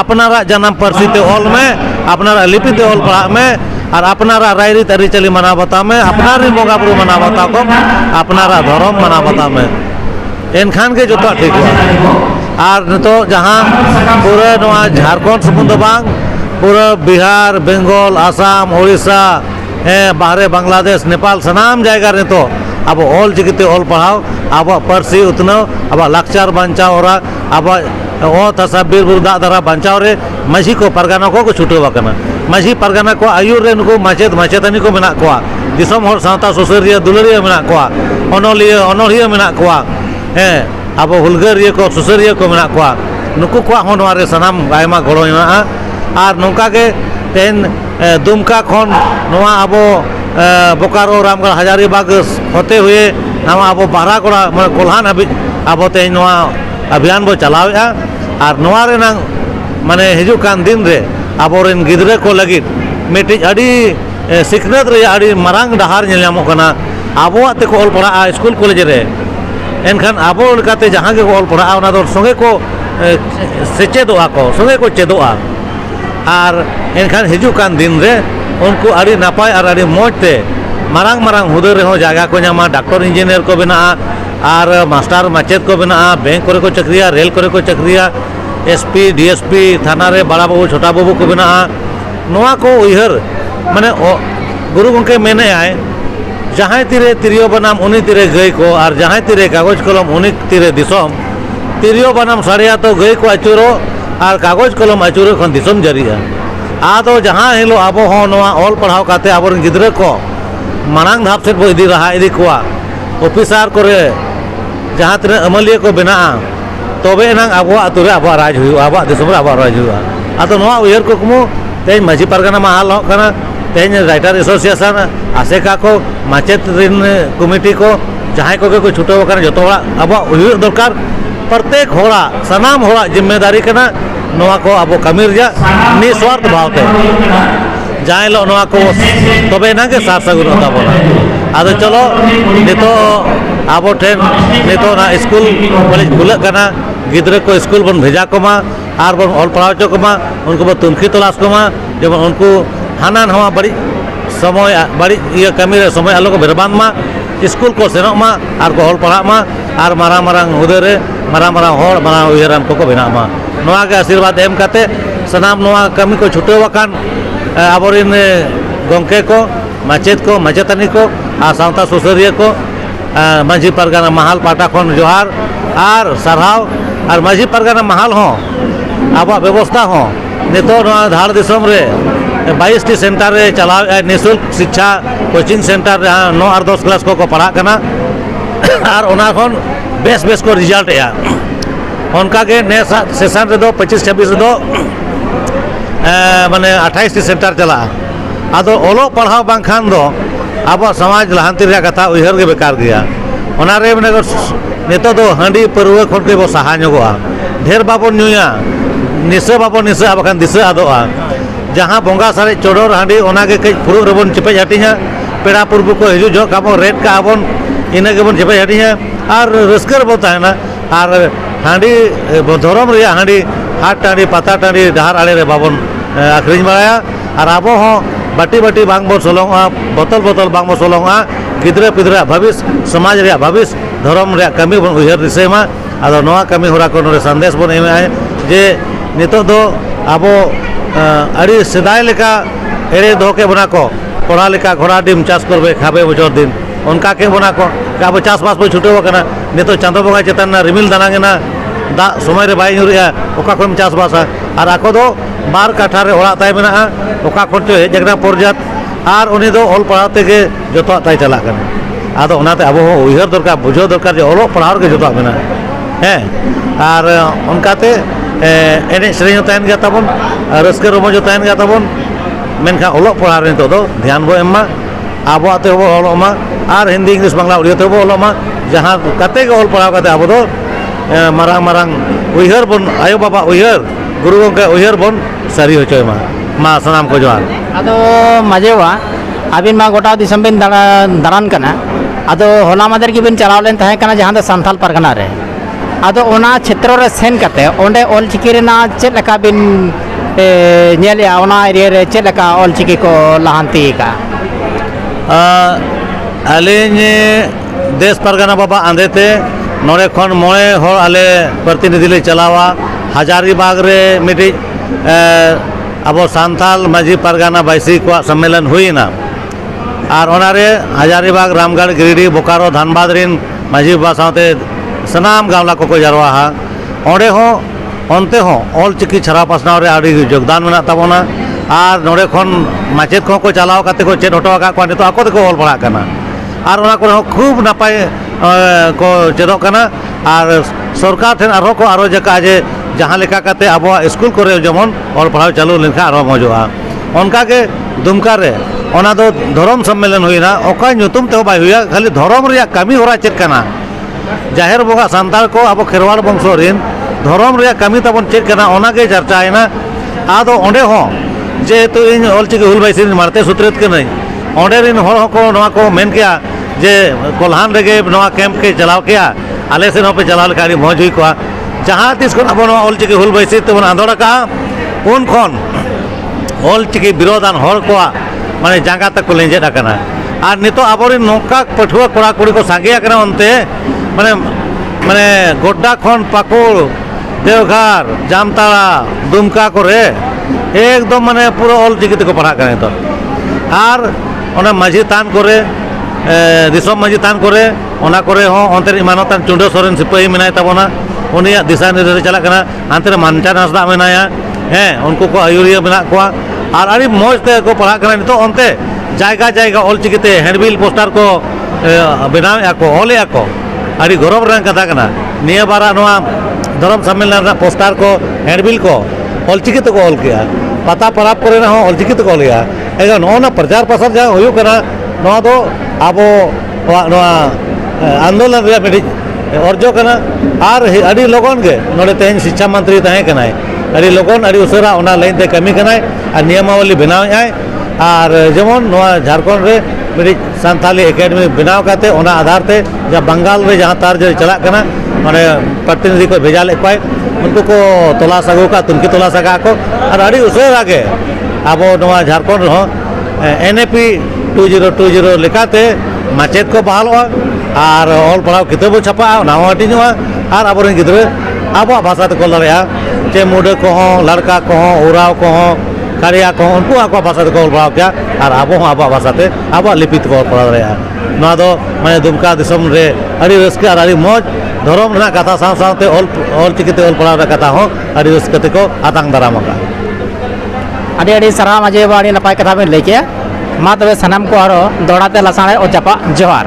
ᱟᱯᱱᱟᱨᱟᱜ ᱡᱟᱱᱟᱢ ᱯᱟᱹᱨᱥᱤ ᱛᱮ ᱚᱞ ᱢᱮ ᱟᱯᱱᱟᱨᱟᱜ ᱞᱤᱯᱤ ᱛᱮ ᱚᱞ ᱯᱟᱲᱦᱟᱜ ᱢᱮ ᱟᱨ ᱟᱯᱱᱟᱨᱟᱜ ᱨᱟᱭᱨᱤᱛ ᱟᱹᱨᱤᱪᱟᱹᱞᱤ ᱢᱟᱱᱟᱣ ᱵᱟᱛᱟᱣ ᱢᱮ ᱟᱯᱱᱟᱨ ᱨᱮᱱ ᱵᱚᱸᱜᱟ ᱵᱩᱨᱩ ᱢᱟᱱᱟᱣ ᱵᱟᱛᱟᱣ ᱠᱚᱢ ᱟᱯᱱᱟᱨᱟᱜ ᱫᱷᱚᱨᱚᱢ ᱢᱟᱱᱟᱣ ᱵᱟᱛᱟᱣ ᱢᱮ ᱮᱱᱠᱷᱟᱱ ᱜᱮ ᱡᱚᱛᱚᱣᱟᱜ ᱴᱷᱤᱠᱚᱜᱼᱟ ᱟᱨ ᱱᱤᱛᱚᱜ ᱡᱟᱦᱟᱸ ᱯᱩᱨᱟᱹ ᱱᱚᱣᱟ ᱡᱷᱟᱲᱠᱷᱚᱸᱰ ᱥᱩᱢᱩᱝ ᱫᱚ ᱵᱟᱝ ᱯᱩᱨᱟᱹ ᱵᱤᱦᱟᱨ ᱵᱮᱝᱜᱚᱞ ᱟᱥᱟᱢ ᱳᱲᱤᱥᱟ ᱦᱮᱸ ᱵᱟᱦᱨᱮ ᱵᱟᱝᱞᱟᱫᱮᱥ ᱱᱮᱯᱟᱞ ᱥᱟᱱᱟᱢ ᱡᱟᱭᱜᱟ ᱨᱮ ᱱᱤᱛᱚᱜ ᱟᱵᱚ ᱚᱞ ᱪᱤᱠᱤ ᱛᱮ ᱚᱞ ᱯᱟᱲᱦᱟᱣ ᱟᱵᱚᱣᱟᱜ ᱯᱟᱹᱨᱥᱤ ᱩᱛᱱᱟᱹᱣ ᱟᱵᱚᱣᱟᱜ ᱞᱟᱠᱪᱟᱨ ᱵᱟᱧᱪᱟᱣ ᱦᱚᱨᱟ ᱟᱵᱚᱣᱟᱜ ᱚᱛ ᱦᱟᱥᱟ ᱵᱤᱨ ᱵᱩᱨᱩ ᱫᱟᱜ ᱫᱷᱟᱨᱟ ᱵᱟᱧᱪᱟᱣ ᱨᱮ ᱢᱟᱹᱡᱷᱤ ᱠᱚ ᱯᱟᱨᱜᱟᱱᱟ ᱠᱚ ᱠᱚ ᱪᱷᱩᱴᱟᱹᱣ ᱟᱠᱟᱱᱟ ᱢᱟᱹᱡᱷᱤ ᱯᱟᱨᱜᱟᱱᱟ ᱠᱚ ᱟᱹᱭᱩᱨ ᱨᱮ ᱱᱩᱠᱩ ᱢᱟᱪᱮᱫ ᱢᱟᱪᱮᱛᱟᱹᱱᱤ ᱠᱚ ᱢᱮᱱᱟᱜ ᱠᱚᱣᱟ ᱫᱤᱥᱚᱢ ᱦᱚᱲ ᱥᱟᱶᱛᱟ ᱥᱩᱥᱟᱹᱨᱤᱭᱟᱹ ᱫᱩᱞᱟᱹᱲᱤᱭᱟᱹ ᱢᱮᱱᱟᱜ ᱠᱚᱣᱟ ᱚᱱᱚᱞᱤᱭᱟᱹ ᱚᱱᱚᱲᱦᱤᱭᱟᱹ ᱢᱮᱱᱟᱜ ᱠᱚᱣᱟ ᱦᱮᱸ ᱟᱵᱚ ᱦᱩᱞᱜᱟᱹᱨᱤᱭᱟᱹ ᱠᱚ ᱥᱩᱥᱟᱹᱨᱤᱭᱟᱹ ᱠᱚ ᱢᱮᱱᱟᱜ ᱠᱚᱣᱟ ᱱᱩᱠᱩ ᱠᱚᱣᱟᱜ ᱦᱚᱸ ᱱᱚᱣᱟ ᱨᱮ ᱥᱟᱱᱟᱢ ᱟᱭᱢᱟ ᱜᱚᱲᱚ ᱢᱮᱱᱟᱜᱼᱟ ᱟᱨ ᱱᱚᱝᱠᱟ ᱜᱮ ᱛᱮᱦᱮᱧ ᱫᱩᱢᱠᱟ ᱠᱷᱚᱱ ᱱᱚᱣᱟ ᱟᱵᱚ ᱵᱚᱠᱟᱨᱳ ᱨᱟᱢᱜᱚᱲ ᱦᱟᱡᱟᱨᱤᱵᱟᱜᱽ ᱦᱚᱛᱮ ᱦᱩᱭᱮ ᱱᱚᱣᱟ ᱟᱵᱚ ᱵᱟᱨᱟ ᱜᱚᱲᱟ ᱢᱟᱱᱮ ᱠᱚᱞᱦᱟᱱ ᱦᱟᱹᱵᱤᱡ ᱟᱵᱚ ᱛᱮᱦᱮᱧ ᱱᱚᱣᱟ ᱟᱵᱷᱤᱭᱟᱱ ᱵᱚ ᱪᱟᱞᱟᱣᱮᱜᱼᱟ ᱟᱨ ᱱᱚᱣᱟ ᱨᱮᱱᱟᱝ ᱢᱟᱱᱮ ᱦᱤᱡᱩᱜ ᱠᱟᱱ ᱫᱤᱱ ᱨᱮ ᱟᱵᱚ ᱨᱮᱱ ᱜᱤᱫᱽᱨᱟᱹ ᱠᱚ ᱞᱟᱹᱜᱤᱫ ᱢᱤᱫᱴᱤᱡ ᱟᱹᱰᱤ ᱥᱤᱠᱷᱱᱟᱹᱛ ᱨᱮᱭᱟᱜ ᱟᱹᱰᱤ ᱢᱟᱨᱟᱝ ᱰᱟᱦᱟᱨ ᱧᱮᱞ ᱧᱟᱢᱚᱜ ᱠᱟᱱᱟ ᱟᱵᱚᱣᱟᱜ ᱛᱮᱠᱚ ᱚᱞ ᱯᱟᱲᱦᱟᱜᱼᱟ ᱥᱠᱩᱞ ᱠᱚᱞᱮᱡᱽ ᱨᱮ ᱮᱱᱠᱷᱟᱱ ᱟᱵᱚ ᱞᱮᱠᱟᱛᱮ ᱡᱟᱦᱟᱸ ᱜᱮᱠᱚ ᱚᱞ ᱯᱟᱲᱦᱟᱜᱼᱟ ᱚᱱᱟ ᱫᱚ ᱥᱚᱸᱜᱮ ᱠᱚ ᱥᱮᱪᱮᱫᱚᱜᱼᱟ ᱠᱚ ᱥᱚᱸᱜᱮ ᱠᱚ ᱪᱮᱫᱚᱜᱼᱟ ᱟᱨ ᱮᱱᱠᱷᱟᱱ ᱦᱤᱡᱩᱜ ᱠᱟᱱ ᱫᱤᱱ ᱨᱮ ᱩᱱᱠᱩ ᱟᱹᱰᱤ ᱱᱟᱯᱟᱭ ᱟᱨ ᱟᱹᱰᱤ ᱢᱚᱡᱽ ᱛᱮ ᱢᱟᱨᱟᱝ ᱢᱟᱨᱟᱝ ᱦᱩᱫᱟᱹ ᱨᱮᱦᱚᱸ ᱡᱟᱭᱜᱟ ᱠᱚ ᱧᱟᱢᱟ ᱰᱟᱠᱛᱚᱨ ᱤᱧᱡᱤᱱᱤᱭᱟᱨ ᱠᱚ ᱵᱮᱱᱟᱜᱼᱟ ᱟᱨ ᱢᱟᱥᱴᱟᱨ ᱢᱟᱪᱮᱫ ᱠᱚ ᱵᱮᱱᱟᱜᱼᱟ ᱵᱮᱝᱠ ᱠᱚᱨᱮ ᱠᱚ ᱪᱟᱹᱠᱨᱤᱭᱟ ᱨᱮᱹᱞ ᱠᱚᱨᱮ ᱠᱚ ᱪᱟᱹᱠᱨᱤᱭᱟ S P D S P ᱛᱷᱟᱱᱟ ᱨᱮ ᱵᱟᱲᱟ ᱵᱟᱹᱵᱩ ᱪᱷᱳᱴᱟ ᱵᱟᱹᱵᱩ ᱠᱚ ᱵᱮᱱᱟᱜᱼᱟ ᱱᱚᱣᱟ ᱠᱚ ᱩᱭᱦᱟᱹᱨ ᱢᱟᱱᱮ ᱚ- ᱜᱩᱨᱩ ᱜᱚᱢᱠᱮ ᱢᱮᱱᱮᱫᱼᱟᱭ ᱡᱟᱦᱟᱸᱭ ᱛᱤᱨᱮ ᱛᱤᱨᱭᱳ ᱵᱟᱱᱟᱢ ᱩᱱᱤ ᱛᱤᱨᱮ ᱜᱟᱹᱭ ᱠᱚ ᱟᱨ ᱡᱟᱦᱟᱸᱭ ᱛᱤᱨᱮ ᱠᱟᱜᱚᱡᱽ ᱠᱚᱞᱚᱢ ᱩᱱᱤ ᱛᱤᱨᱮ ᱫᱤᱥᱚᱢ ᱛᱤᱨᱭᱳ ᱵᱟᱱᱟᱢ ᱥᱟᱰᱮᱭᱟ ᱛᱚ ᱜᱟᱹᱭ ᱠᱚ ᱟᱹᱪᱩᱨᱚᱜ ᱟᱨ ᱠᱟᱜᱚᱡᱽ ᱠᱚᱞᱚᱢ ᱟᱹᱪᱩᱨᱚᱜ ᱠᱷᱟᱱ ᱫᱤᱥᱚᱢ ᱡᱟᱹᱨᱤᱜᱼᱟ ᱟᱫᱚ ᱡᱟᱦᱟᱸ ᱦᱤᱞᱳᱜ ᱟᱵᱚ ᱦᱚᱸ ᱱᱚᱣᱟ ᱚᱞ ᱯᱟᱲᱦᱟᱣ ᱠᱟᱛᱮ ᱟᱵᱚᱨᱮᱱ ᱜᱤᱫᱽᱨᱟᱹ ᱠᱚ ᱢᱟᱲᱟᱝ ᱫᱷᱟᱯ ᱥᱮᱫ ᱵᱚ ᱤᱫᱤ ᱞᱟᱦᱟ ᱤᱫᱤ ᱠᱚᱣᱟ ᱚᱯᱷᱤᱥᱟᱨ ᱠᱚᱨᱮ ᱡᱟᱦᱟᱸ ᱛᱤᱱᱟᱹᱜ ᱟᱹᱢᱟᱹᱞᱤᱭᱟᱹ ᱠᱚ ᱵᱮᱱᱟᱜᱼᱟ ᱛᱚᱵᱮ ᱮᱱᱟᱝ ᱟᱵᱚᱣᱟᱜ ᱟᱛᱳ ᱨᱮ ᱟᱵᱚᱣᱟᱜ ᱨᱟᱡᱽ ᱦᱩᱭᱩᱜᱼᱟ ᱟᱵᱚᱣᱟᱜ ᱫᱤᱥᱚᱢ ᱨᱮ ᱟᱵᱚᱣᱟᱜ ᱨᱟᱡᱽ ᱦᱩᱭᱩᱜᱼᱟ ᱟᱫᱚ ᱱᱚᱣᱟ ᱩᱭᱦᱟᱹᱨ ᱠᱩᱠᱢᱩ ᱛᱮᱦᱮᱧ ᱢᱟᱺᱡᱷᱤ ᱯᱟᱨᱜᱟᱱᱟ ᱢᱟᱦᱟᱞᱚᱜ ᱠᱟᱱᱟ ᱛᱮᱦᱮᱧ ᱨᱟᱭᱴᱟᱨ ᱮᱥᱳᱥᱤᱭᱮᱥᱚᱱ ᱟᱥᱮᱠᱟ ᱠᱚ ᱢᱟᱪᱮᱫ ᱨᱤᱱ ᱠᱚᱢᱤᱴᱤ ᱠᱚ ᱡᱟᱦᱟᱸᱭ ᱠᱚᱜᱮ ᱠᱚ ᱪᱷᱩᱴᱟᱹᱣ ᱟᱠᱟᱱᱟ ᱡᱚᱛᱚ ᱦᱚᱲᱟᱜ ᱟᱵᱚᱣᱟᱜ ᱩᱭᱦᱟᱹᱨ ᱫᱚᱨᱠᱟᱨ ᱯᱨᱚᱛᱮᱠ ᱦᱚᱲᱟᱜ ᱥᱟᱱᱟᱢ ᱦᱚᱲᱟᱜ ᱡᱤᱢᱢᱮᱫᱟᱨᱤ ᱠᱟᱱᱟ ᱱᱚᱣᱟ ᱠᱚ ᱟᱵᱚ ᱠᱟᱹᱢᱤ ᱨᱮᱭᱟᱜ ᱱᱤᱥᱣᱟᱨᱛᱷ ᱵᱷᱟᱵᱛᱮ ᱡᱟᱦᱟᱸ ᱦᱤᱞᱳᱜ ᱱᱚᱣᱟ ᱠᱚ ᱛᱚᱵᱮ ᱮᱱᱟᱝ ᱜᱮ ᱥᱟᱨ ᱥᱟᱹᱜᱩᱱᱚᱜ ᱛᱟᱵᱚᱱᱟ ᱟᱫᱚ ᱪᱚᱞᱚ ᱱᱤᱛᱚᱜ ᱟᱵᱚ ᱴᱷᱮᱱ ᱱᱤᱛᱚᱜ ᱚᱱᱟ ᱥᱠᱩᱞ ᱠᱚᱞᱮᱡᱽ ᱠᱷᱩᱞᱟᱹᱜ ᱠᱟᱱᱟ ᱜᱤᱫᱽᱨᱟᱹ ᱠᱚ ᱥᱠᱩᱞ ᱵᱚᱱ ᱵᱷᱮᱡᱟ ᱠᱚᱢᱟ ᱟᱨ ᱵᱚᱱ ᱚᱞ ᱯᱟᱲᱦᱟᱣ ᱦᱚᱪᱚ ᱠᱚᱢᱟ ᱩᱱᱠᱩ ᱵᱚᱱ ᱛᱩᱱᱠᱷᱤ ᱛᱚᱞᱟᱥ ᱠᱚᱢᱟ ᱡᱮᱢᱚᱱ ᱩᱱᱠᱩ ᱦᱟᱱᱟ ᱱᱟᱣᱟ ᱵᱟᱹᱲᱤᱡ ᱥᱚᱢᱚᱭ ᱵᱟᱹᱲᱤᱡ ᱤᱭᱟᱹ ᱠᱟᱹᱢᱤ ᱨᱮ ᱥᱚᱢᱚᱭ ᱟᱞᱚ ᱠᱚ ᱵᱮᱨᱵᱟᱫᱽ ᱢᱟ ᱥᱠᱩᱞ ᱠᱚ ᱥᱮᱱᱚᱜ ᱢᱟ ᱟᱨ ᱠᱚ ᱚᱞ ᱯᱟᱲᱦᱟᱜ ᱢᱟ ᱟᱨ ᱢᱟᱨᱟᱝ ᱢᱟᱨᱟᱝ ᱦᱩᱫᱟᱹ ᱨᱮ ᱢᱟᱨᱟᱝ ᱢᱟᱨᱟᱝ ᱦᱚᱲ ᱢᱟᱨᱟᱝ ᱩᱭᱦᱟᱹᱨᱟᱱ ᱠᱚᱠᱚ ᱵᱮᱱᱟᱜ ᱢᱟ ᱱᱚᱣᱟ ᱜᱮ ᱟᱥᱤᱨᱵᱟᱫᱽ ᱮᱢ ᱠᱟᱛᱮ ᱥᱟᱱᱟᱢ ᱱᱚᱣᱟ ᱠᱟᱹᱢᱤ ᱠᱚ ᱪᱷᱩᱴᱟᱹᱣ ᱟᱠᱟᱱ ᱟᱵᱚᱨᱮᱱ ᱜᱚᱢᱠᱮ ᱠᱚ ᱢᱟᱪᱮᱫ ᱠᱚ ᱢᱟᱪᱮᱛᱟᱹᱱᱤ ᱠᱚ ᱟᱨ ᱥᱟᱶᱛᱟ ᱥᱩᱥᱟᱹᱨᱤᱭᱟᱹ ᱠᱚ ᱢᱟᱹᱡᱷᱤ ᱯᱟᱨᱜᱟᱱᱟ ᱢᱟᱦᱟᱞ ᱯᱟᱦᱴᱟ ᱠᱷᱚᱱ ᱡᱚᱦᱟᱨ ᱟᱨ ᱥᱟᱨᱦᱟᱣ ᱟᱨ ᱢᱟᱹᱡᱷᱤ ᱯᱟᱨᱜᱟᱱᱟ ᱢᱟᱦᱟᱞ ᱦᱚᱸ ᱟᱵᱚᱣᱟᱜ ᱵᱮᱵᱚᱥᱛᱷᱟ ᱦᱚᱸ ᱱᱤᱛᱚᱜ ᱱᱚᱣᱟ ᱫᱷᱟᱲ ᱫᱤᱥᱚᱢ ᱨᱮ ᱵᱟᱭᱤᱥᱴᱤ ᱥᱮᱱᱴᱟᱨ ᱨᱮ ᱪᱟᱞᱟᱣ ᱮᱫᱟᱭ ᱱᱤᱥᱩᱞᱠ ᱥᱤᱠᱠᱷᱟ ᱠᱳᱪᱤᱝ ᱥᱮᱱᱴᱟᱨ ᱨᱮ ᱱᱚ ᱟᱨ ᱫᱚᱥ ᱠᱞᱟᱥ ᱠᱚᱠᱚ ᱯᱟᱲᱦᱟᱜ ᱠᱟᱱᱟ ᱟᱨ ᱚᱱᱟ ᱠᱷᱚᱱ ᱵᱮᱥ ᱵᱮᱥ ᱠᱚ ᱨᱮᱡᱟᱞᱴ ᱮᱫᱟ ᱚᱱᱠᱟᱜᱮ ᱱᱮᱥ ᱥᱮᱥᱚᱱ ᱨᱮᱫᱚ ᱯᱚᱸᱪᱤᱥ ᱪᱷᱟᱵᱵᱤᱥ ᱨᱮᱫᱚ ᱢᱟᱱᱮ ᱟᱴᱷᱟᱥᱴᱤ ᱥᱮᱱᱴᱟᱨ ᱪᱟᱞᱟᱜᱼᱟ ᱟᱫᱚ ᱚᱞᱚᱜ ᱯᱟᱲᱦᱟᱣ ᱵᱟᱝᱠᱷᱟᱱ ᱫᱚ ᱟᱵᱚᱣᱟᱜ ᱥᱚᱢᱟᱡᱽ ᱞᱟᱦᱟᱱᱛᱤ ᱨᱮᱭᱟᱜ ᱠᱟᱛᱷᱟ ᱩᱭᱦᱟᱹᱨ ᱜᱮ ᱵᱮᱠᱟᱨ ᱜᱮᱭᱟ ᱚᱱᱟᱨᱮ ᱢᱟᱱᱮ ᱱᱤᱛᱚᱜ ᱫᱚ ᱦᱟᱺᱰᱤ ᱯᱟᱹᱨᱣᱟᱹ ᱠᱷᱚᱱ ᱜᱮᱵᱚ ᱥᱟᱦᱟ ᱧᱚᱜᱚᱜᱼᱟ ᱰᱷᱮᱨ ᱵᱟᱵᱚᱱ ᱧᱩᱭᱟ ᱱᱤᱥᱟᱹ ᱵᱟᱵᱚᱱ ᱱᱤᱥᱟᱹᱜᱼᱟ ᱵᱟᱠᱷᱟᱱ ᱫᱤᱥᱟᱹ ᱟᱫᱚᱜᱼᱟ ᱡᱟᱦᱟᱸ ᱵᱚᱸᱜᱟ ᱥᱟᱨᱮᱡ ᱪᱚᱰᱚᱨ ᱦᱟᱺᱰᱤ ᱚᱱᱟᱜᱮ ᱠᱟᱹᱡ ᱯᱷᱩᱲᱩᱜ ᱨᱮᱵᱚᱱ ᱪᱮᱯᱮᱡ ᱦᱟᱹᱴᱤᱧᱟ ᱯᱮᱲᱟ ᱯᱩᱨᱵᱩ ᱠᱚ ᱦᱤᱡᱩᱜ ᱡᱚᱦᱚᱜ ᱠᱟᱜ ᱵᱚᱱ ᱨᱮᱫ ᱠᱟᱜᱼᱟ ᱵᱚᱱ ᱤᱱᱟᱹ ᱜᱮᱵᱚᱱ ᱪᱮᱯᱮᱡ ᱦᱟᱹᱴᱤᱧᱟ ᱟᱨ ᱨᱟᱹᱥᱠᱟᱹ ᱨᱮᱵᱚᱱ ᱛᱟᱦᱮᱱᱟ ᱟᱨ ᱦᱟᱺᱰᱤ ᱫᱷᱚᱨᱚᱢ ᱨᱮᱭᱟᱜ ᱦᱟᱺᱰᱤ ᱦᱟᱴ ᱴᱟᱺᱰᱤ ᱯᱟᱛᱟ ᱴᱟᱺᱰᱤ ᱰᱟᱦᱟᱨ ᱟᱲᱮ ᱨᱮ ᱵᱟᱵᱚᱱ ᱟᱹᱠᱷᱨᱤᱧ ᱵᱟᱲᱟᱭᱟ ᱟᱨ ᱟᱵᱚ ᱦᱚᱸ ᱵᱟᱹᱴᱤ ᱵᱟᱹᱴᱤ ᱵᱟᱝ ᱵᱚᱱ ᱥᱚᱞᱚᱝᱚᱜᱼᱟ ᱵᱚᱛᱚᱞ ᱵᱚᱛᱚᱞ ᱵᱟᱝ ᱵᱚᱱ ᱥᱚᱞᱚᱝᱚᱜᱼᱟ ᱜᱤᱫᱽᱨᱟᱹ ᱯᱤᱫᱽᱨᱟᱹ ᱟᱜ ᱵᱷᱟᱵᱤᱥ ᱥᱚᱢᱟᱡᱽ ᱨᱮᱭᱟᱜ ᱵᱷᱟᱵᱤᱥ ᱫᱷᱚᱨᱚᱢ ᱨᱮᱭᱟᱜ ᱠᱟᱹᱢᱤ ᱵᱚᱱ ᱩᱭᱦᱟᱹᱨ ᱫᱤᱥᱟᱹᱭ ᱢᱟ ᱟᱫᱚ ᱱᱚᱣᱟ ᱠᱟᱹᱢᱤ ᱦᱚᱨᱟ ᱠᱚ ᱱᱚᱰᱮ ᱥᱟᱸᱫᱮᱥ ᱵᱚᱱ ᱮᱢᱮᱜᱼᱟ ᱡᱮ ᱱᱤᱛᱚᱜ ᱫᱚ ᱟᱵᱚ ᱟᱹᱰᱤ ᱥᱮᱫᱟᱭ ᱞᱮᱠᱟ ᱮᱲᱮ ᱫᱚᱦᱚ ᱠᱮᱫ ᱵᱚᱱᱟ ᱠᱚ ᱠᱚᱲᱟ ᱞᱮᱠᱟ ᱜᱷᱚᱲᱟ ᱰᱤᱢ ᱪᱟᱥ ᱠᱚᱨᱵᱮ ᱠᱷᱟᱵᱮ ᱵᱚᱪᱷᱚᱨ ᱫᱤᱱ ᱚᱱᱠᱟ ᱠᱮᱫ ᱵᱚᱱᱟ ᱠᱚ ᱟᱵᱚ ᱪᱟᱥᱵᱟᱥ ᱵᱚᱱ ᱪᱷᱩᱴᱟᱹᱣ ᱟᱠᱟᱱᱟ ᱱᱤᱛᱚᱜ ᱪᱟᱸᱫᱚ ᱵᱚᱸᱜᱟ ᱪᱮᱛᱟᱱ ᱨᱮᱱᱟᱜ ᱨᱤᱢᱤᱞ ᱫᱟᱱᱟᱝ ᱮᱱᱟ ᱫᱟᱜ ᱥᱚᱢᱚᱭ ᱨᱮ ᱵᱟᱭ ᱧᱩᱨᱮᱜᱼᱟ ᱚᱠᱟ ᱠᱷᱚᱱᱮᱢ ᱪᱟᱥᱵᱟᱥᱟ ᱟᱨ ᱟᱠᱚ ᱫᱚ ᱵᱟᱨ ᱠᱟᱴᱷᱟ ᱨᱮ ᱚᱲᱟᱜ ᱛᱟᱭ ᱢᱮᱱᱟᱜᱼᱟ ᱚᱠᱟ ᱠᱷᱚᱱ ᱪᱚ ᱦᱮᱡ ᱟᱠᱟᱱᱟ ᱯᱚᱨᱡᱟᱛ ᱟᱨ ᱩᱱᱤ ᱫᱚ ᱚᱞ ᱯᱟᱲᱦᱟᱣ ᱛᱮᱜᱮ ᱡᱚᱛᱚᱣᱟᱜ ᱛᱟᱭ ᱪᱟᱞᱟᱜ ᱠᱟᱱᱟ ᱟᱫᱚ ᱚᱱᱟᱛᱮ ᱟᱵᱚ ᱦᱚᱸ ᱩᱭᱦᱟᱹᱨ ᱫᱚᱨᱠᱟᱨ ᱵᱩᱡᱷᱟᱹᱣ ᱫᱚᱨᱠᱟᱨ ᱡᱮ ᱚᱞᱚᱜ ᱯᱟᱲᱦᱟᱣ ᱨᱮᱜᱮ ᱡᱚᱛᱚᱣᱟᱜ ᱢᱮᱱᱟᱜᱼᱟ ᱦᱮᱸ ᱟᱨ ᱚᱱᱠᱟᱛᱮ ᱮᱱᱮᱡ ᱥᱮᱨᱮᱧ ᱦᱚᱸ ᱛᱟᱦᱮᱱ ᱜᱮᱭᱟ ᱛᱟᱵᱚᱱ ᱨᱟᱹᱥᱠᱟᱹ ᱨᱚᱢᱚᱡᱽ ᱦᱚᱸ ᱛᱟᱦᱮᱱ ᱜᱮᱭᱟ ᱛᱟᱵᱚᱱ ᱢᱮᱱᱠᱷᱟᱱ ᱚᱞᱚᱜ ᱯᱟᱲᱦᱟᱣ ᱨᱮ ᱱᱤᱛᱚᱜ ᱫᱚ ᱫᱷᱮᱭᱟᱱ ᱵᱚᱱ ᱮᱢ ᱢᱟ ᱟᱵᱚᱣᱟᱜ ᱛᱮᱦᱚᱸ ᱵᱚᱱ ᱚᱞᱚᱜ ᱢᱟ ᱟᱨ ᱦᱤᱱᱫᱤ ᱤᱝᱞᱤᱥ ᱵᱟᱝᱞᱟ ᱩᱲᱤᱭᱟ ᱛᱮᱦᱚᱸ ᱵᱚᱱ ᱚᱞᱚᱜ ᱢᱟ ᱡᱟᱦᱟᱸ ᱠᱟᱛᱮᱫ ᱜᱮ ᱚᱞ ᱯᱟᱲᱦᱟᱣ ᱠᱟᱛᱮᱫ ᱟᱵᱚ ᱫᱚ ᱢᱟᱨᱟᱝ ᱢᱟᱨᱟᱝ ᱩᱭᱦᱟᱹᱨ ᱵᱚᱱ ᱟᱭᱳᱼᱵᱟᱵᱟᱣᱟᱜ ᱩᱭᱦᱟᱹᱨ ᱜᱩᱨᱩ ᱜᱚᱢᱠᱮ ᱩᱭᱦᱟᱹᱨ ᱵᱚᱱ ᱥᱟᱹᱨᱤ ᱦᱚᱪᱚᱭ ᱢᱟ ᱢᱟ ᱥᱟᱱᱟᱢ ᱠᱚ ᱡᱚᱦᱟᱨ ᱟᱫᱚ ᱢᱟᱡᱮᱣᱟ ᱟᱹᱵᱤᱱ ᱢᱟ ᱜᱚᱴᱟ ᱫᱤᱥᱚᱢ ᱵᱤᱱ ᱫᱟᱬᱟᱱ ᱠᱟᱱᱟ ᱟᱫᱚ ᱦᱚᱞᱟ ᱢᱟᱫᱷᱮᱨ ᱜᱮᱵᱤᱱ ᱪᱟᱞᱟᱣ ᱞᱮᱱ ᱛᱟᱦᱮᱸ ᱠᱟᱱᱟ ᱡᱟᱦᱟᱸ ᱫᱚ ᱥᱟᱱᱛᱟᱞ ᱯᱟᱨᱜᱟᱱᱟ ᱨᱮ ᱟᱫᱚ ᱚᱱᱟ ᱪᱷᱮᱛᱨᱚ ᱨᱮ ᱥᱮᱱ ᱠᱟᱛᱮ ᱚᱸᱰᱮ ᱚᱞ ᱪᱤᱠᱤ ᱨᱮᱱᱟᱜ ᱪᱮᱫ ᱞᱮᱠᱟ ᱵᱤᱱ ᱧᱮᱞᱮᱜᱼᱟ ᱚᱱᱟ ᱮᱨᱤᱭᱟ ᱨᱮ ᱪᱮᱫ ᱞᱮᱠᱟ ᱚᱞ ᱪᱤᱠᱤ ᱠᱚ ᱞᱟᱦᱟᱱᱛᱤ ᱟᱠᱟᱫᱼᱟ ᱟᱹᱞᱤᱧ ᱫᱮᱥ ᱯᱟᱨᱜᱟᱱᱟ ᱵᱟᱵᱟ ᱟᱸᱫᱮ ᱛᱮ ᱱᱚᱰᱮ ᱠᱷᱚᱱ ᱢᱚᱬᱮ ᱦᱚᱲ ᱟᱞᱮ ᱯᱨᱚᱛᱤᱱᱤᱫᱷᱤ ᱞᱮ ᱪᱟᱞᱟᱣᱟ ᱦᱟᱡᱟᱨᱤ ᱵᱟᱜᱽ ᱨᱮ ᱢᱤᱫᱴᱤᱡ ᱟᱵᱚ ᱥᱟᱱᱛᱟᱲ ᱢᱟᱹᱡᱷᱤ ᱯᱟᱨᱜᱟᱱᱟ ᱵᱟᱹᱭᱥᱤ ᱠᱚᱣᱟᱜ ᱥᱚᱢᱢᱮᱞᱚᱱ ᱦᱩᱭᱮᱱᱟ ᱟᱨ ᱚᱱᱟᱨᱮ ᱦᱟᱡᱟᱨᱤ ᱵᱟᱜᱽ ᱨᱟᱢᱜᱚᱲ ᱜᱤᱨᱤᱰᱤ ᱵᱳᱠᱟᱨᱳ ᱫᱷᱟᱱᱵᱟᱫᱽ ᱨᱮᱱ ᱢᱟᱹᱡᱷᱤ ᱵᱟᱵᱟ ᱥᱟᱶᱛᱮ ᱥᱟᱱᱟᱢ ᱜᱟᱶᱞᱟ ᱠᱚᱠᱚ ᱡᱟᱨᱣᱟᱜᱼᱟ ᱚᱸᱰᱮ ᱦᱚᱸ ᱚᱱᱛᱮ ᱦᱚᱸ ᱚᱞ ᱪᱤᱠᱤ ᱪᱷᱟᱨᱟᱣ ᱯᱟᱥᱱᱟᱣ ᱨᱮ ᱟᱹᱰᱤ ᱡᱳᱜᱽᱫᱟᱱ ᱢᱮᱱᱟᱜ ᱛᱟᱵᱚᱱᱟ ᱟᱨ ᱱᱚᱰᱮ ᱠᱷᱚᱱ ᱢᱟᱪᱮᱫ ᱠᱚᱦᱚᱸ ᱠᱚ ᱪᱟᱞᱟᱣ ᱠᱟᱛᱮᱫ ᱠᱚ ᱪᱮᱫ ᱦᱚᱴᱚ ᱟᱠᱟᱫ ᱠᱚᱣᱟ ᱱᱤᱛᱚᱜ ᱟᱠᱚ ᱛᱮᱠᱚ ᱚᱞ ᱯᱟᱲᱦᱟᱜ ᱠᱟᱱᱟ ᱟᱨ ᱚᱱᱟ ᱠᱚᱨᱮ ᱦᱚᱸ ᱠᱷᱩᱵ ᱱᱟᱯᱟᱭ ᱠᱚ ᱪᱮᱫᱚᱜ ᱠᱟᱱᱟ ᱟᱨ ᱥᱚᱨᱠᱟᱨ ᱴᱷᱮᱱ ᱟᱨᱦᱚᱸ ᱠᱚ ᱟᱨᱚᱡᱽ ᱟᱠᱟᱫᱼᱟ ᱡᱮ ᱡᱟᱦᱟᱸ ᱞᱮᱠᱟ ᱠᱟᱛᱮᱫ ᱟᱵᱚᱣᱟᱜ ᱥᱠᱩᱞ ᱠᱚᱨᱮ ᱡᱮᱢᱚᱱ ᱚᱞ ᱯᱟᱲᱦᱟᱣ ᱪᱟᱹᱞᱩ ᱞᱮᱱᱠᱷᱟᱱ ᱟᱨᱦᱚᱸ ᱢᱚᱡᱚᱜᱼᱟ ᱚᱱᱠᱟ ᱜᱮ ᱫᱩᱢᱠᱟ ᱨᱮ ᱚᱱᱟ ᱫᱚ ᱫᱷᱚᱨᱚᱢ ᱥᱚᱢᱢᱮᱞᱚᱱ ᱦᱩᱭᱱᱟ ᱚᱠᱟ ᱧᱩᱛᱩᱢ ᱛᱮᱦᱚᱸ ᱵᱟᱭ ᱦᱩᱭᱩᱜᱼᱟ ᱠᱷᱟᱹᱞᱤ ᱫᱷᱚᱨᱚᱢ ᱨᱮᱭᱟᱜ ᱠᱟᱹᱢᱤ ᱦᱚᱨᱟ ᱪᱮᱫ ᱠᱟᱱᱟ ᱡᱟᱦᱮᱨ ᱵᱚᱸᱜᱟ ᱥᱟᱱᱛᱟᱲ ᱠᱚ ᱟᱵᱚ ᱠᱷᱮᱨᱣᱟᱲ ᱵᱚᱝᱥᱚ ᱨᱮᱱ ᱫᱷᱚᱨᱚᱢ ᱨᱮᱭᱟᱜ ᱠᱟᱹᱢᱤ ᱛᱟᱵᱚᱱ ᱪᱮᱫ ᱠᱟᱱᱟ ᱚᱱᱟ ᱜᱮ ᱪᱟᱨᱪᱟᱭᱮᱱᱟ ᱟᱫᱚ ᱚᱸᱰᱮ ᱦᱚᱸ ᱡᱮᱦᱮᱛᱩ ᱤᱧ ᱚᱞᱪᱤᱠᱤ ᱦᱩᱞ ᱵᱟᱭᱥᱤ ᱨᱮᱱ ᱢᱟᱬᱛᱮ ᱥᱩᱛᱨᱮᱛ ᱠᱟᱹᱱᱟᱹᱧ ᱚᱸᱰᱮ ᱨᱮᱱ ᱦᱚᱲ ᱦᱚᱸᱠᱚ ᱱᱚᱣᱟ ᱠᱚ ᱢᱮᱱ ᱠᱮᱜᱼᱟ ᱡᱮ ᱠᱚᱞᱦᱟᱱ ᱨᱮᱜᱮ ᱱᱚᱣᱟ ᱠᱮᱢᱯ ᱯᱮ ᱪᱟᱞᱟᱣ ᱠᱮᱜᱼᱟ ᱟᱞᱮ ᱥᱮᱫ ᱦᱚᱸᱯᱮ ᱪᱟᱞᱟᱣ ᱞᱮᱠᱷᱟᱱ ᱟᱹᱰᱤ ᱢᱚᱡᱽ ᱦᱩᱭ ᱠᱚᱜᱼᱟ ᱡᱟᱦᱟᱸ ᱛᱤᱥ ᱠᱷᱚᱱ ᱟᱵᱚ ᱱᱚᱣᱟ ᱚᱞᱪᱤᱠᱤ ᱦᱩᱞ ᱵᱟᱹᱭᱥᱤ ᱛᱮᱵᱚᱱ ᱟᱸᱫᱳᱲ ᱟᱠᱟᱜᱼᱟ ᱩᱱ ᱠᱷᱚᱱ ᱚᱞᱪᱤᱠᱤ ᱵᱤᱨᱳᱫᱟᱱ ᱦᱚᱲ ᱠᱚᱣᱟᱜ ᱢᱟᱱᱮ ᱡᱟᱸᱜᱟ ᱛᱮᱠᱚ ᱞᱮᱸᱡᱮᱫ ᱟᱠᱟᱱᱟ ᱟᱨ ᱱᱤᱛᱚᱜ ᱟᱵᱚᱨᱮᱱ ᱱᱚᱝᱠᱟ ᱯᱟᱹᱴᱷᱩᱣᱟᱹ ᱠᱚᱲᱟ ᱠᱩᱲᱤ ᱠᱚ ᱥᱟᱸᱜᱮ ᱟᱠᱟᱱᱟ ᱚᱱᱛᱮ ᱢᱟᱱᱮ ᱢᱟᱱᱮ ᱜᱚᱰᱰᱟ ᱠᱷᱚᱱ ᱯᱟᱹᱠᱩᱲ ᱫᱮᱣᱜᱷᱟᱨ ᱡᱟᱢᱛᱟᱲᱟ ᱫᱩᱢᱠᱟ ᱠᱚᱨᱮ ᱮᱠᱫᱚᱢ ᱢᱟᱱᱮ ᱯᱩᱨᱟᱹ ᱚᱞ ᱪᱤᱠᱤ ᱛᱮᱠᱚ ᱯᱟᱲᱦᱟᱜ ᱠᱟᱱᱟ ᱱᱤᱛᱚᱜ ᱟᱨ ᱚᱱᱟ ᱢᱟᱹᱡᱷᱤ ᱛᱷᱟᱱ ᱠᱚᱨᱮ ᱫᱤᱥᱚᱢ ᱢᱟᱹᱡᱷᱤ ᱛᱷᱟᱱ ᱠᱚᱨᱮ ᱚᱱᱟ ᱠᱚᱨᱮ ᱦᱚᱸ ᱚᱱᱛᱮ ᱨᱮ ᱢᱟᱱᱚᱛᱟᱱ ᱪᱩᱸᱰᱟᱹ ᱥᱚᱨᱮᱱ ᱥᱤᱯᱟᱹᱦᱤ ᱢᱮᱱᱟᱭ ᱛᱟᱵᱚᱱᱟ ᱩᱱᱤᱭᱟᱜ ᱫᱤᱥᱟᱹ ᱱᱤᱨᱫᱮᱥ ᱨᱮ ᱪᱟᱞᱟᱜ ᱠᱟᱱᱟ ᱦᱟᱱᱛᱮ ᱨᱮ ᱢᱟᱱᱴᱟᱱ ᱦᱟᱸᱥᱫᱟ ᱢᱮᱱᱟᱭᱟ ᱦᱮᱸ ᱩᱱᱠᱩ ᱠᱚ ᱟᱹᱭᱩᱨᱤᱭᱟᱹ ᱢᱮᱱᱟᱜ ᱠᱚᱣᱟ ᱟᱨ ᱟᱹᱰᱤ ᱢᱚᱡᱽ ᱛᱮᱠᱚ ᱯᱟᱲᱦᱟᱜ ᱠᱟᱱᱟ ᱱᱤᱛᱚᱜ ᱚᱱᱛᱮ ᱡᱟᱭᱜᱟ ᱡᱟᱭᱜᱟ ᱚᱞ ᱪᱤᱠᱤᱛᱮ ᱦᱮᱱᱰᱵᱤᱞ ᱯᱳᱥᱴᱟᱨ ᱠᱚ ᱵᱮᱱᱟᱣᱮᱫᱼᱟ ᱠᱚ ᱚᱞᱮᱫᱼᱟ ᱠᱚ ᱟᱹᱰᱤ ᱜᱚᱨᱚᱵᱽ ᱨᱮᱱᱟᱜ ᱠᱟᱛᱷᱟ ᱠᱟᱱᱟ ᱱᱤᱭᱟᱹ ᱵᱟᱨᱟᱜ ᱱᱚᱣᱟ ᱫᱷᱚᱨᱚᱢ ᱥᱚᱢᱢᱮᱞᱚᱱ ᱨᱮᱱᱟᱜ ᱯᱳᱥᱴᱟᱨ ᱠᱚ ᱦᱮᱱᱰᱵᱤᱞ ᱠᱚ ᱚᱞᱪᱤᱠᱤ ᱛᱮᱠᱚ ᱚᱞ ᱠᱮᱜᱼᱟ ᱯᱟᱛᱟ ᱯᱚᱨᱚᱵᱽ ᱠᱚᱨᱮᱱᱟᱜ ᱦᱚᱸ ᱚᱞᱪᱤᱠᱤ ᱛᱮᱠᱚ ᱚᱞ ᱮᱜᱼᱟ ᱮᱱᱠᱷᱟᱱ ᱱᱚᱜᱼᱚ ᱱᱟ ᱯᱨᱚᱪᱟᱨ ᱯᱨᱚᱥᱟᱨ ᱡᱟᱦᱟᱸ ᱦᱩᱭᱩᱜ ᱠᱟᱱᱟ ᱱᱚᱣᱟ ᱫᱚ ᱟᱵᱚ ᱠᱚᱣᱟᱜ ᱱᱚᱣᱟ ᱟᱱᱫᱳᱞᱚᱱ ᱨᱮᱭᱟᱜ ᱢᱤᱫᱴᱤᱡ ᱚᱨᱡᱚ ᱠᱟᱱᱟ ᱟᱨ ᱟᱹᱰᱤ ᱞᱚᱜᱚᱱ ᱜᱮ ᱱᱚᱰᱮ ᱛᱮᱦᱮᱧ ᱥᱤᱪᱪᱷᱟ ᱢᱚᱱᱛᱨᱤ ᱛᱟᱦᱮᱸ ᱠᱟᱱᱟᱭ ᱟᱹᱰᱤ ᱞᱚᱜᱚᱱ ᱟᱹᱰᱤ ᱩᱥᱟᱹᱨᱟ ᱚᱱᱟ ᱞᱟᱹᱭᱤᱱ ᱛᱮ ᱠᱟᱹᱢᱤ ᱠᱟᱱᱟᱭ ᱟᱨ ᱱᱤᱭᱚᱢᱟᱵᱚᱞᱤ ᱵᱮᱱᱟᱣᱮᱜᱼᱟᱭ ᱟᱨ ᱡᱮᱢᱚᱱ ᱱᱚᱣᱟ ᱡᱷᱟᱲᱠᱷᱚᱸᱰ ᱨᱮ ᱢᱤᱫᱴᱤᱡ ᱥᱟᱱᱛᱟᱞᱤ ᱮᱠᱟᱰᱮᱢᱤ ᱵᱮᱱᱟᱣ ᱠᱟᱛᱮ ᱚᱱᱟ ᱟᱫᱷᱟᱨ ᱛᱮ ᱡᱟᱦᱟᱸ ᱵᱟᱝᱜᱟᱞ ᱨᱮ ᱡᱟᱦᱟᱸ ᱛᱟᱨ ᱡᱟᱹᱨᱤ ᱪᱟᱞᱟᱜ ᱠᱟᱱᱟ ᱚᱸᱰᱮ ᱯᱨᱚᱛᱤᱱᱤᱫᱷᱤ ᱠᱚ ᱵᱷᱮᱡᱟ ᱞᱮᱫ ᱠᱚᱣᱟᱭ ᱩᱱᱠᱩ ᱠᱚ ᱛᱚᱞᱟᱥ ᱟᱹᱜᱩ ᱠᱟᱜᱼᱟ ᱛᱩᱱᱠᱷᱤ ᱛᱚᱞᱟᱥ ᱟᱠᱟᱫ ᱠᱚ ᱟᱨ ᱟᱹᱰᱤ ᱩᱥᱟᱹᱨᱟ ᱜᱮ ᱟᱵᱚ ᱱᱚᱣᱟ ᱡᱷᱟᱲᱠᱷᱚᱸᱰ ᱨᱮᱦᱚᱸ N E P two zero two zero ᱞᱮᱠᱟᱛᱮ ᱢᱟᱪᱮᱫ ᱠᱚ ᱵᱟᱦᱟᱞᱚᱜᱼᱟ ᱟᱨ ᱚᱞ ᱯᱟᱲᱦᱟᱣ ᱠᱤᱛᱟᱹᱵ ᱦᱚᱸ ᱪᱷᱟᱯᱟᱜᱼᱟ ᱚᱱᱟ ᱦᱚᱸ ᱦᱟᱹᱴᱤᱧᱚᱜᱼᱟ ᱟᱨ ᱟᱵᱚᱨᱮᱱ ᱜᱤᱫᱽᱨᱟᱹ ᱟᱵᱚᱣᱟᱜ ᱵᱷᱟᱥᱟ ᱛᱮᱠᱚ ᱚᱞ ᱫᱟᱲᱮᱭᱟᱜᱼᱟ ᱪᱮ ᱢᱩᱰᱟᱹ ᱠᱚᱦᱚᱸ ᱞᱟᱲᱠᱟ ᱠᱚᱦᱚᱸ ᱳᱨᱟᱣ ᱠᱚᱦᱚᱸ ᱠᱟᱲᱭᱟ ᱠᱚᱦᱚᱸ ᱩᱱᱠᱩ ᱦᱚᱸ ᱟᱠᱚᱣᱟᱜ ᱵᱷᱟᱥᱟ ᱛᱮᱠᱚ ᱚᱞ ᱯᱟᱲᱦᱟᱣ ᱠᱮᱭᱟ ᱟᱨ ᱟᱵᱚ ᱦᱚᱸ ᱟᱵᱚᱣᱟᱜ ᱵᱷᱟᱥᱟ ᱛᱮ ᱟᱵᱚᱣᱟᱜ ᱞᱤᱯᱤ ᱛᱮᱵᱚ ᱚᱞ ᱯᱟᱲᱦᱟᱣ ᱫᱟᱲᱮᱭᱟᱜᱼᱟ ᱱᱚᱣᱟ ᱫᱚ ᱢᱟᱱᱮ ᱫᱩᱢᱠᱟ ᱫᱤᱥᱚᱢ ᱨᱮ ᱟᱹᱰᱤ ᱨᱟᱹᱥᱠᱟᱹ ᱟᱨ ᱟᱹᱰᱤ ᱢᱚᱡᱽ ᱫᱷᱚᱨᱚᱢ ᱨᱮᱱᱟᱜ ᱠᱟᱛᱷᱟ ᱥᱟᱶ ᱥᱟᱶᱛᱮ ᱚᱞ ᱚᱞ ᱪᱤᱠᱤ ᱛᱮ ᱚᱞ ᱯᱟᱲᱦᱟᱣ ᱨᱮᱱᱟᱜ ᱠᱟᱛᱷᱟ ᱦᱚᱸ ᱟᱹᱰᱤ ᱨᱟᱹᱥᱠᱟᱹ ᱛᱮᱠᱚ ᱟᱛᱟᱝ ᱫᱟᱨᱟᱢ ᱟᱠᱟᱫᱼᱟ ᱟᱹᱰᱤ ᱟᱹᱰᱤ ᱥᱟᱨᱦᱟᱣ ᱢᱟᱹᱡᱷᱤ ᱵᱟᱵᱟ ᱟᱹᱰᱤ ᱱᱟᱯᱟᱭ ᱠᱟᱛᱷᱟ ᱵᱮᱱ ᱞᱟᱹᱭ ᱠᱮᱜᱼᱟ ᱢᱟ ᱛᱚᱵᱮ ᱥᱟᱱᱟᱢ ᱠᱚ ᱟᱨᱚ ᱫᱚᱦᱲᱟ ᱛᱮ ᱞᱟᱥᱟᱬᱦᱮᱫ ᱚᱛ ᱡᱟᱯᱟᱜ ᱡᱚᱦᱟᱨ